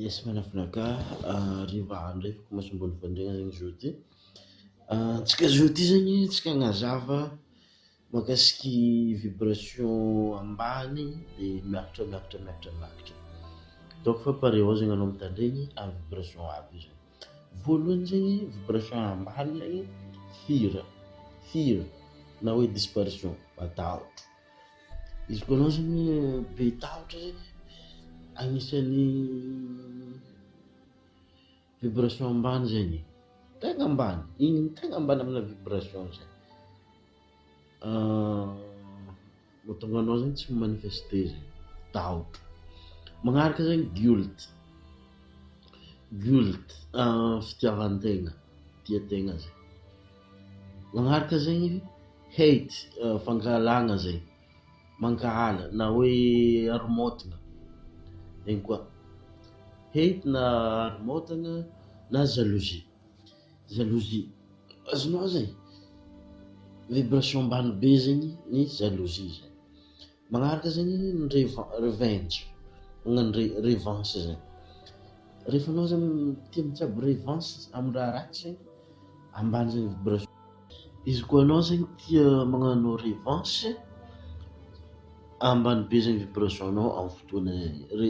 Yes manafina ka hariva andro zay masombony fandregna zegny jour ty antsika jour ty zegny antsika agnazava makasiky vibration ambany de miakatra miakatra miakatra miakatra donc fa pare ô zegny anao mitandregny amy vibration aby io zany voalohany zegny vibration ambany zegny hira hira na hoe disparition matahotra. Izy koa anao zany be tahotra zany agnisan'ny vibration ambany zegny, tegna ambany, igny tegna ambany amina vibration zay, mahatonga anao zany tsy mi-manifeste zany, tahotra, magnaraka zany guilt, guilt fitiavan-tegna, tia tegna zay. Magnaraka zay hate fankahalana zay mankahala na hoe haromotana egny koa hate na haromotana na jalousie jalousie azonao zay vibration ambany be zegny ny jalousie zay. Magnaraka zay ny revenge magnano re revanche zay rehefa anao zany tia mitsabo revanche amin'ny raha ratsy zany ambany zany vibration izy koa anao zany tia magnano revanche ambany be zany vibration nao amin'ny fotoana zay re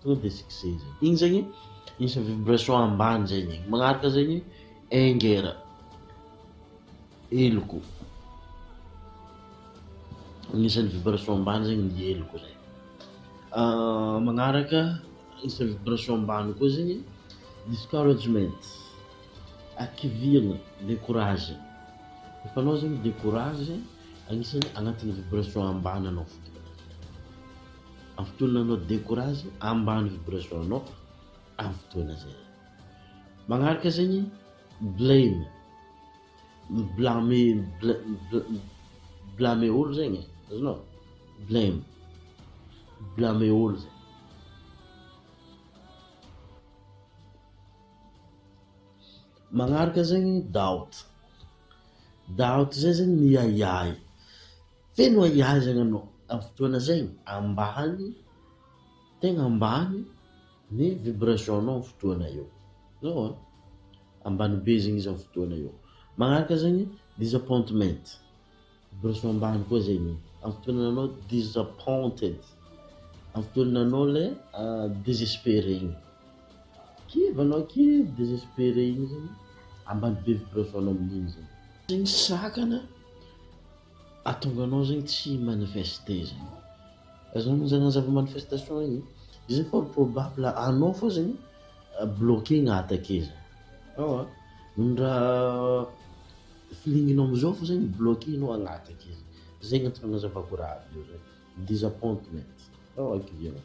Tonga dia tsy kizay zay. Iny zegny isan'ny vibration ambany zay ny. Magnaraka zay ny anger. Heloko. Anisan'ny vibration ambany zegny ny heloko zay. Ah, magnaraka isan'ny vibration ambany koa zegny discouragement. Akivihana, décourage. Efa anao zegny décourage, anisan'ny agnatin'ny vibration ambany anao. Ampitony nanao decourage ambany vibration nao am fotoana zay. Magnaraka zegny blame mi-blame mi-blame olo zegny e, azonao? Blame mi-blame olo zegny. Magnaraka zegny doubt, doubt zay zegny miahiahy. Feno ahiahizana no amin'ny fotoana zay ambany tegna ambany ny vibration nao fotoana io zao a ambany be zegny izy amin'ny fotoana io magnaraka zegny disappointment vibration ambany koa zegny amin'ny fotoana anao disappointed amin'ny fotoana anao le desespere igny kivy anao kivy desespere igny zegny ambany be vibration nao amin'igny zegny sakana Ahatonga anao zegny tsy hi-manifester zegny. Aza manjary manazava manifestation igny e. Izy fort probable anao fô zegny bloquer-na attaquer zany. Ewa, ny raha feeling-nao am'zao fô zegny bloquer-nao agn-attaquer zegny. Zegny antony agnazavako raha aby io zegny, disappointment. Ewa kivy anao.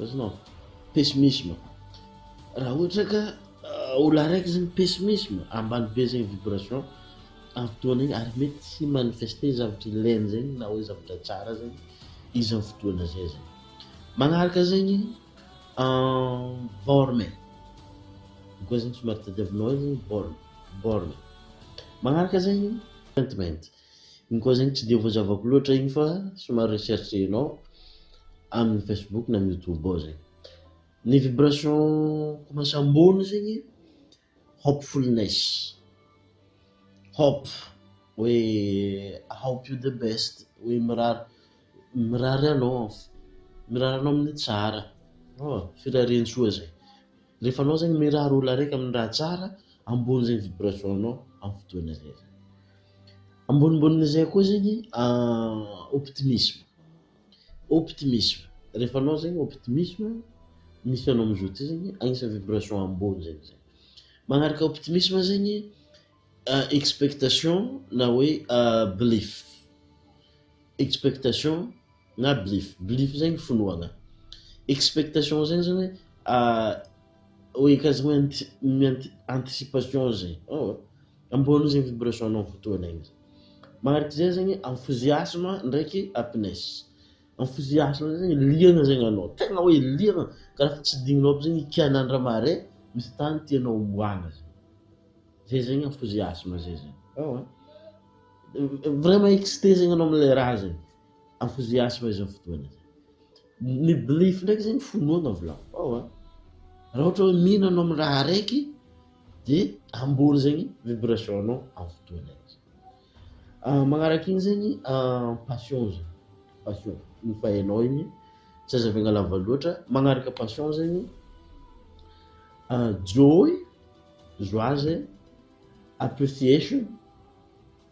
Azonao? Pessimisme. Raha ohatra ka ah, olona araiky zany pessimisme, ambany be zegny vibration amin'ny fotoana igny ary mety tsy manifester zavatra ilainy zegny na hoe zavatra tsara zegny izy amin'ny fotoana zay zegny. Magnaraka zegny ah, borne. Io koa zegny somary tadiavinao eo zegny borne, borne. Magnaraka zegny contentment. Iny koa zany tsy dia voazavako loatra iny fa somary recherche-nao amin'ny Facebook na amin'ny YouTube ao zegny. Ny vibration commence ambony zegny hopefulness, hope hoe I hope you the best, hoe mirary mirary anao, mirary anao amin'ny tsara, firariantsoa zay. Rehefa anao zegny mirary olo araiky amin'ny raha tsara, ambony zegny vibration anao amin'ny fotoana zay zany. Amboninbonin'izay koa zegny optimisme, optimisme, rehefa anao zegny optimisme, misy anao amizao ty zegny agnisan'ny vibration ambony zegny zay. Magnaraka optimisme zegny expectation na hoe belief, expectation na belief belief zay ny finoana expectation zay zany hoe oe anticipation zay ambonin'izay vibration anao aminy fotoana iny zay manaraka izay zany enthousiasme ndraiky happiness enthousiasme zay zany liana zay gnanao tegna hoe liana ka raha fa tsy dignina aby zay ikana andra marais misy tany tianao homboagna zay zay zany enthousiasme zay zany vraiment excite zay gnanao amle raha zay Afozeasy fa izao fotoana izao. Ny belief ndraiky zegny finoana volavohao a. Raha ohatra hoe mino anao amin'ny raha araiky de ambony zegny vibration anao amin'ny fotoana igny. Ah, magnaraka igny zegny ah, passion zany, passion igny efa hainao igny, tsy azavaigna lava loatra, magnaraka passion zegny ah, joy, joie zegny, appreciation.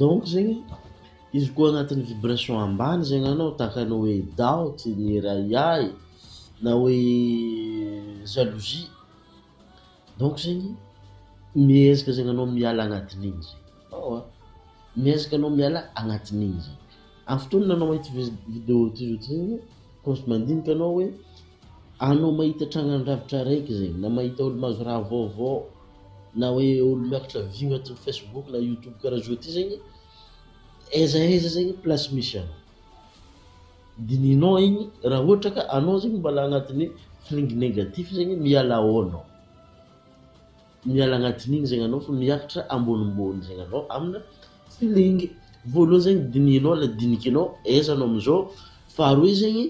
Donc zegny izy koa agnatin'ny vibration ambany zegny anao tahaka ny hoe doubt ny hery ahiahy na hoe jalousie donc zegny miezaka zegny anao miala agnatin'igny zegny, ewa miezaka anao miala agnatin'igny zegny, amin'ny fotoana anao mahita vi- video toy zao ty zegny koa ohatry mandinika anao hoe anao mahita trangan-dravitra araiky zegny na mahita olo mahazo raha vaovao. na hoe olo miakatra view atin'ny facebook na youtube karaha zao ty zegny aiza aiza zegny place misy anao dinihinao igny raha ohatra ka anao zegny mbala agnatin'ny feeling negatif zegny miala ao anao miala agnatin'igny zegny anao fa miakatra ambonimbony zegny anao amina feeling voalohany zegny dinihinao la dinikinao aiza anao amizao faharoe zegny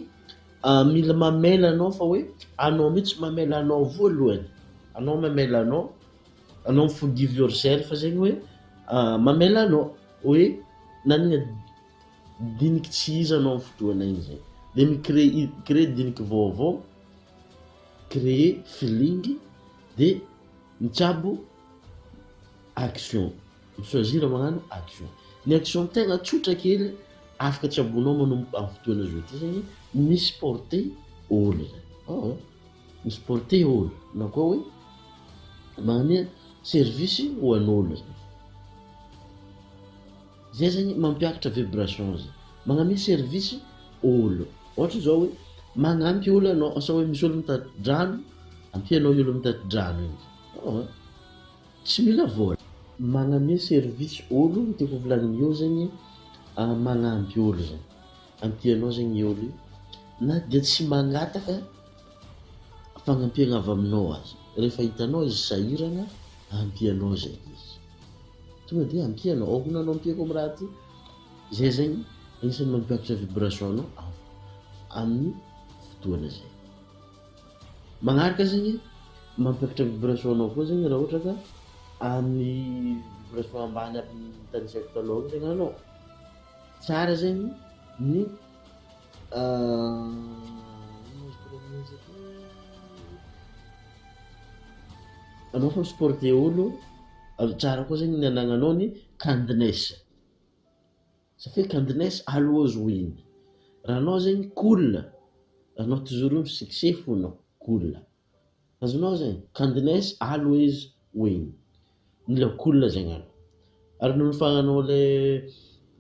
Ah mila mamela anao fa hoe anao mihitsy mamela anao voalohany, anao mamela anao, anao forgive yourself zegny hoe mamela anao hoe nanagna diniky tsy izy anao amin'ny fotoana igny zay de mi-cree- créer diniky vaovao, créer feeling de mitsabo action. Ny choisir magnano action. Ny action tegna tsotra kely afaka tsaboinao manomboka amin'ny fotoana zao ity zegny, mi supporter ôlo zany. Oh, mi supporter ôlo na koa hoe magnome service ho an'ôlo zany. Zay zegny mampiakatra vibration zay. Magname service ôlo. Ohatra zao hoe magnampy ôlo anao asa hoe misy ôlo mitati-drano, ampianao i ôlo mitati-drano igny. Oh. Tsy mila vola. Magname service olo ny tiako volagniny eo zegny magnampy olo zay am tianao zegny i olo io na dia tsy magnataka fagnampiagna avy aminao aza rehefa hitanao izy sahiragna ampianao zegny izy tonga de ampianao ao koa nanao ampiako am raha ty zay zegny agnisan'ny mampiakatra vibration anao amin'ny fotoagna zay. Magnaraka zegny, mampiakatra vibration anao koa zegny raha ohatra ka amin'ny vibration ambany aby ny tanisaiko talôha io zegny anao, tsara zegny ny ino moa izy koa raha magnan'izay koa, anao fa mi-supporter olo, tsara koa zegny ny anagnanao ny kindness. Ça fait qu'Andness always win. Raha anao zegny cool, anao toujours io succès fo anao, cool. Azonao zegny, qu'Andness always win. Mila cool zegny anao. Ary noho ny fa anao le,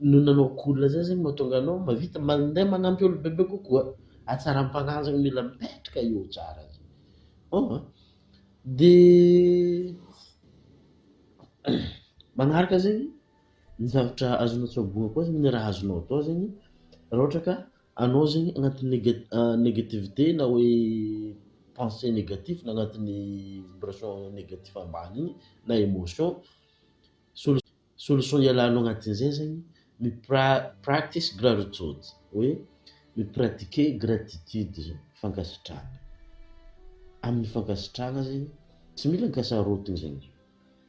noho ny anao cool zay zegny mahatonga anao mahavita mandeha manampy olo bebe kokoa. Hatsaram-panahy zegny mila mipetraka eo tsara zegny. Bon an. De magnaraka zegny. Ny zavatra azonao tsaboina koa zany raha azonao atao zany raha ohatra ka anao zany agnatin'ny nega- negativite na hoe pensée négatif na agnatin'ny vibration négatif ambany igny na émotion, solu- solution ialanao agnatin'izay zany ny pra- practice gratitude, hoe mi-pratiquer gratitude zany, fankasitrahana, amin'ny fankasitrahana zany tsy mila ankasarotiny zany.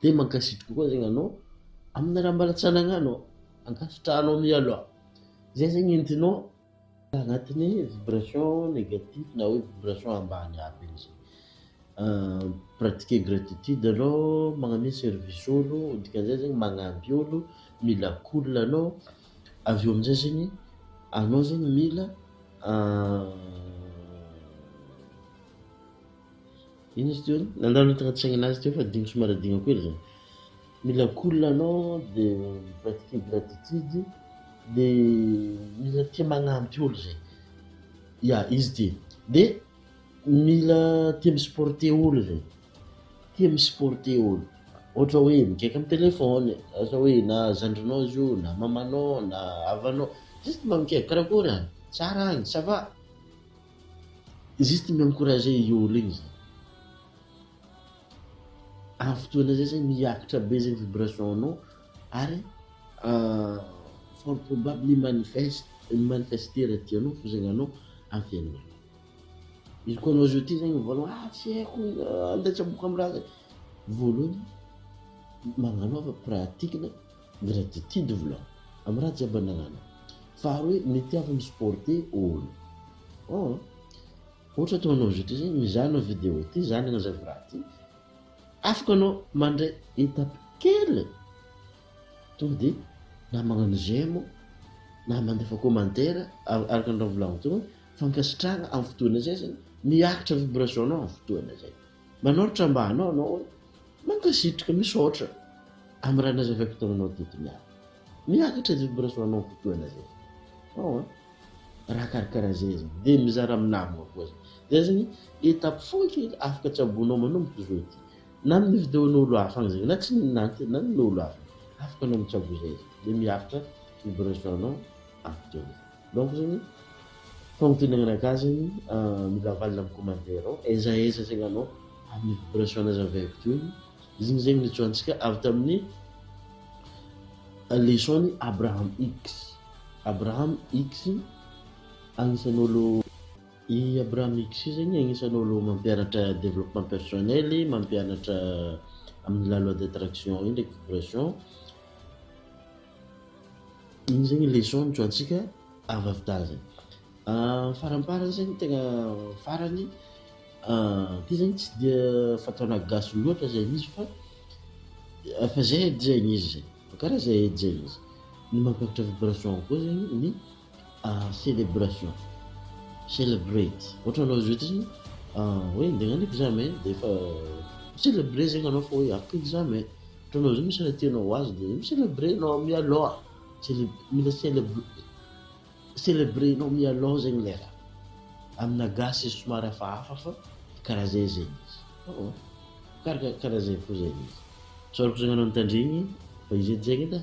Dia mankasitra kokoa zegny anao amina raha mbala tsy anagnanao, ankasitrahanao mialoha, zay zegny entinao agnatin'ny vibration negatif na hoe vibration ambany aby igny zay, pratiquer gratitude alou magname service olo dikan'izay zegny magnamby olo, mila cool anao, avy eo amizay zegny anao zegny mila. Inona izy teo a? Nandalo ny tagnaty saignana azy teo fa digny somary adigno kely zany. Mila cool anao de mivadika ingratitude de mila tia magnampy olo zay. Ya izy ty. De mila tia mi-supporter olo zay, tia mi-supporter olo. Ohatra hoe mikiaka am' telephone, ohatra hoe na zandrinao izy io na mamanao na havanao, juste mba mikiaka, karakôry agny? Tsara agny? Ça va? Izy ity mi-encourager i Yolo igny zany. Amin'ny fotoana zay zany miakatra be zegny vibration-nao ary fort probable mi-manifeste mi-manifester raha tianao fo zegny anao amin'ny fiainanao. Izy koa anao zao ty zegny mivolagna hoe ah tsy haiko andeha tsy aboaka amin'ny raha zay, voalohany magnanaova pratique-na. Gratitude vla am raha jiaby ananana fa ary hoe mety avy mi supporte olo an! Ohatra atao anao zao ty zay mizaha anao video ty zany aza vy raha ty afaka anao mandray etape kely tonga de na magnano j'aime na mandefa commentaire araka ny raha volagno teo hoe fankasitrahagna am fotoana zay zany miakatra vibration nao am fotoana zay. Manaotra mba anao anao hoe mankasitrka misaotra am raha nazavaiko taminao teto miala miakatra ny vibration anao kokoa na zay ao an raha karakara zay izy de mizara am namana koa zay zay zany etape fohy kely afaka tsaboinao manomboka zao ity na amin ny video nolo hafa agny zay na tsy na na ny nolo hafa afaka anao mitsabo zay izy de miakatra vibration anao am video zay. Donc zany fagnontenana gasy zany mila avalona am commentaire ao aiza aiza zegny anao aminy vibration nazy avy aiky teo igny izigny zegny nijohantsika avy taminy leçon ny Abraham Hicks Abraham Hicks agnisany olo i Abraham Hicks io zegny agnisany olo mampianatra developpement personnel mampianatra aminy la loi d'attraction io ndraiky vibration. Iny zegny leçon nijohantsika avadin-dahy zegny. Faramparany zegny tegna farany ty zegny tsy dia fataonà gasy loatra zegny izy fa efa zay edy zegny izy zay, karaha zay edy zegny izy. Ny mampihatra vibration koa zegny ny. celebration, celebrate, ohatra anao zao ity hoe ndeha agnano examen dia efa mi-celebrer zegny anao fa hoe afaka examen, ohatra anao zao misy raha tianao ho azo dia mi-celebrer anao mialoha, mila celebrer nao mialoha zegny ilay raha, amina gasy izy somary hafahafa fa karaha zay zegny izy, karaha zay fo zegny izy, tsaroako zegny anao nitandregny fa izy edy zegny edy a.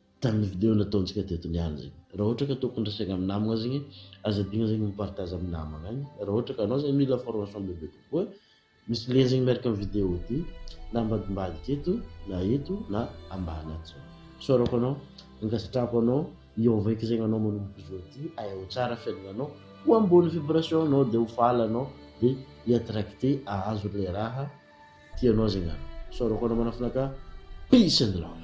Tamin'ny video nataontsika teto niany zegny raha ohatra ka tokony resaigna amin'ny namagna zegny aza adigna zegny mi-partage amin'ny namagna an! raha ohatra ka anao zegny mila formation bebe kokoa misy lien zegny miaraka amin'ny video ty na ambadimbadika eto na eto na ambany ato zao isaorako anao ankasitrahako anao hiôva eky zegny anao manomboka izao ty ahay ho tsara fiaignananao ho ambony vibration nao de ho faly anao de hi-attracter hahazo le raha tianao zegny anao isaorako anao manafinaka peace and love.